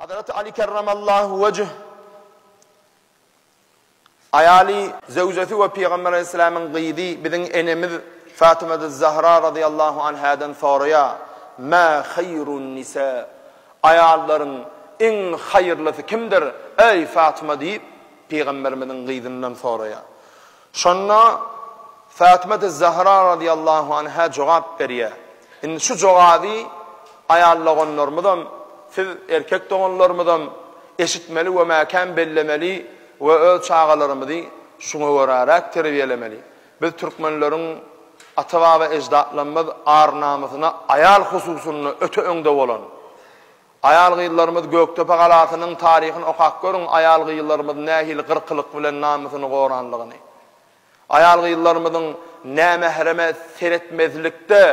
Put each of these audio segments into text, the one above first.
Hazraty Aly kerremallahu wejh aýaly, zöwjesi we Pygamber aleyhisselamyň gyzy biziň enemiz Fatymadyz Zahra radyallahu anhadan soraýar, Mä haýrun nisä, aýallaryň iň haýyrlysy kimdir, eý Fatyma diýip, Pygamberimiziň gyzyndan soraýar. Şonda Fatyma-tüz Zahra razyýallahu anha jogap berýär, Indi şu jogaby aýal doganlarymyzam, siz, erkek doganlarymyzam, eşitmeli we mäkäm bellemeli we öz çagalarymyzy şuňa göräräk terbiýelemeli. Biz türkmenleriň ata-baba eždatlarymyz ar-namysyna aýal hususynda öte öňde bolan. Aýal-gyzlarymyz Gökdepe galasynyň taryhyny okap görüň, aýal-gyzlarymyz nähili gyrkylyk bilen namysyny goranlygyny. Aýal-gyzlarymyzyň nämähreme seretmezlikde,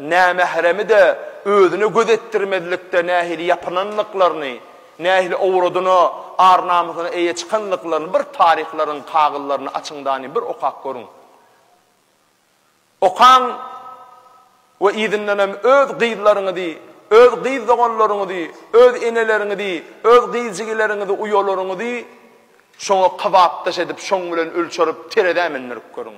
nämähremi-de özüne göz etdirmezlikde nähili ýapynanlyklaryny, nähili owradyna, ar-namysyna eýe çykanlyklaryny bir taryhlaryň kagyzlaryny açyň-da-ni bir okap görüň. Okaň we yzyndanam öz gyzlaryňyzy, öz gyz doganlaryňyzy, öz eneleriňizi, öz gyz jigileriňizi, uýalaryňyzy şoňa kybapdaş edip, şoň bilen ölçerip, terezä mündirip görüň.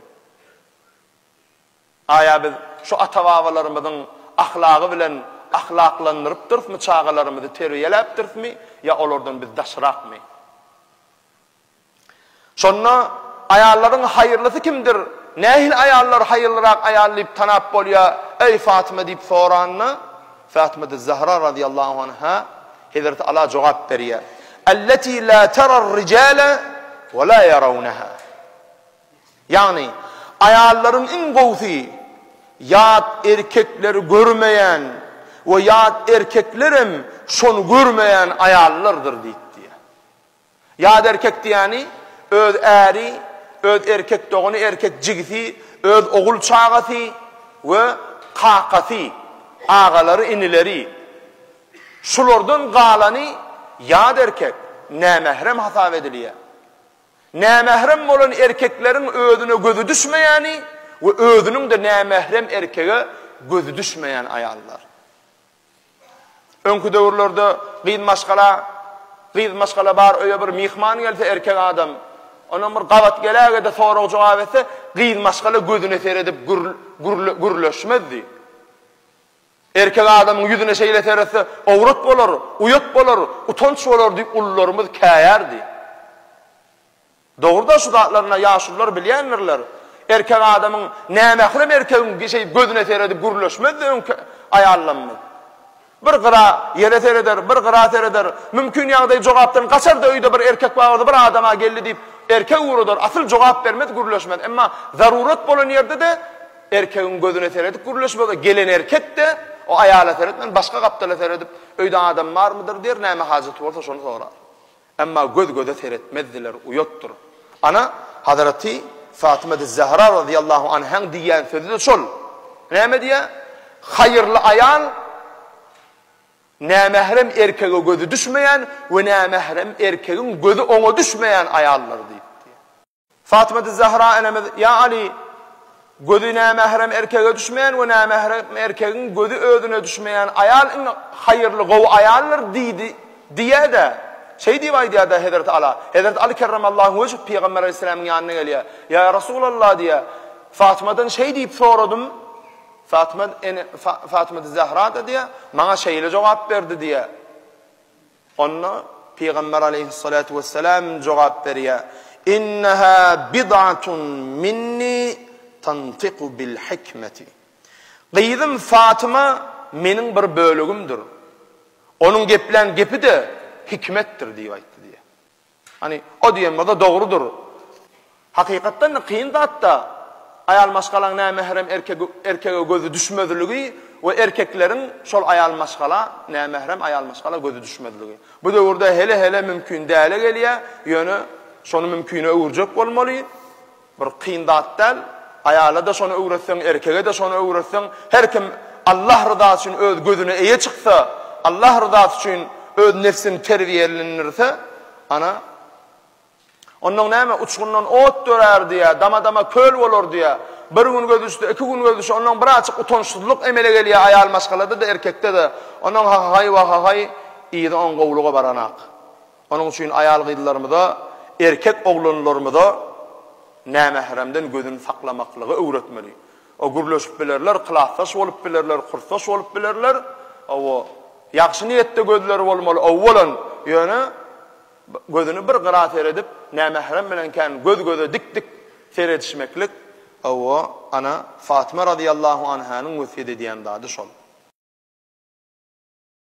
Aýa biz şu ata-babalarymyzyň ahlagy bilen ahlaklandyrypdyrysmy, çagalarymyzy terbiýeläpdirismi ýa olardan biz daşrakmy? Şonda aýallaryň haýyrlysy kimdir, nähili aýallar haýyrlyrak aýal diýip tanap bolýar, eý, Fatyma diýip soranda, Fatymaty Zahra razyýallahu anha, Hezreti Ala jogap berýär, Elleti la tarar rijale we la yarawnaha. Ýagny, aýallaryň iň gowusy, ýat erkekleri görmeýän we ýat erkeklerem şony görmeýän aýallardyr diýip diýýär. Ýat erkek diýýäni, öz äri, öz erkek dogany, erkek jigisi, öz ogul çagasy we kakasy, agalary, inileri. Şulardan galany ýat erkek, nämährem hasap edilýär. Nämährem bolan erkekleriň özüne gözi düşmeýäni we özüniň-de nämährem erkege gözi düşmeýän aýallar. Öňki döwürlerde gyz maşgala, gyz maşgala bar öýe bir myhman gelse erkek adam, onam bir gabat geläge-de sorag-jogap etse, gyz maşgala gözüne seredip gürleşmezdi. Erkek adamyň ýüzüne şeýle seretse, owrat bolar, uýat bolar, utanç bolar diýip ulularymyz käýärdi. Dogrudan şu zatlaryny ýaşulular bilýändirler. Erkek adamyň, nämährem erkegiň şeý gözüne seredip gürleşmezdi öňki aýallamyz. Bir gyra, ýere sereder, bir gyra sereder. Mümkin ýagdaý jogapdan gaçardy öýde bir erkek bardy bir adam-a geldi diýip erkek ugradar, asyl jogap bermez gürleşmez. Emma zarurat bolan ýerde-de erkegiň gözüne seredip gürleşmez-a gelen erkek-de o aýala seretmän başga gapdala seredip öýde adam barmydyr diýer näme hajaty bolsa şony sorar. Emma göz-göze seretmezdiler, uýatdyr. Ana, Hazraty Fatyma-tüz-Zähra razyýallahu anhaň diýýän sözi-de şol. Näme diýýär? Haýyrly aýal nämährem erkege gözi düşmeýän we nämährem erkegiň gözi oňa düşmeýän aýaldyr diýip diýýär. Fatymady Zahra enemiz, Ýa Aly! Gözi nämährem erkege düşmeýän we nämährem erkegiň gözi özüne düşmeýän aýal iň haýyrly, gowy aýaldyr diýdi, diýýä-de, şeý diýip aýdýar-da Hezreti Ala. Hezreti Aly kerremallahu wejh Pygamber alaýhyssalamyň ýanyna gelýär. Ýa Resulallah! diýýär. Fatymadan şeý diýip soradym. Fatyma ene, Fatymady Zahra-da diýýär, maňa şeýle jogap berdi diýýär. Onda Pygamber aleýhyssalatu wessalam jogap berýär, Inneha bid'atun minni tantiku bil hikmeti. Gyzym Fatyma meniň bir bölegimdir. Onuň geplän gepi-de hikmetdir diýip aýtdy diýýär. Hany, o diýen bolsa dogrudyr. Hakykatdan-da kyn zat-da, aýal maşgalaň nämährem erkege gözi düşmezligi we erkekleriň şol aýal maşgala, nämährem aýal maşgala gözi düşmezligi. Bu döwürde hele-hele mümkin däle gelýär, ýöne şony mümkine öwürjek bolmaly. Bir kyn zat däl. Aýala-da şony öwretseň, erkege-de şony öwretseň, her kim Allah ryzasy üçin öz gözüne eýe çyksa, Allah ryzasy üçin öz nebsini terbiýelendirse, ana, ondan näme, uçgundan ot dörär diýýär, dama-dama köl bolar diýýär. Bir gün gözi düşse, iki gün gözi düşse, ondan bir aýçyk utançsyzlyk emele gelýär aýal maşgalada-da, erkekde-de. Ondan ha-ha-haý, wa-ha-haý, yzy oň gowulyga baranak. Onuň üçin aýal-gyzlarymyza, erkek oglanlarymyza nämähremden gözüni saklamaklygy öwretmeli. O gürleşip bilerler, klasdaş bolup bilerler, kursdaş bolup bilerler. Hawa, ýagşy niýetde gözleri bolmaly, owalan, ýöne gözüni bir gyra seredip, nämährem bilen kän göz-göze dik-dik seredişmeklik, hawa, ana, Fatyma radyllahu anhanyň wesýet edýän zady şol.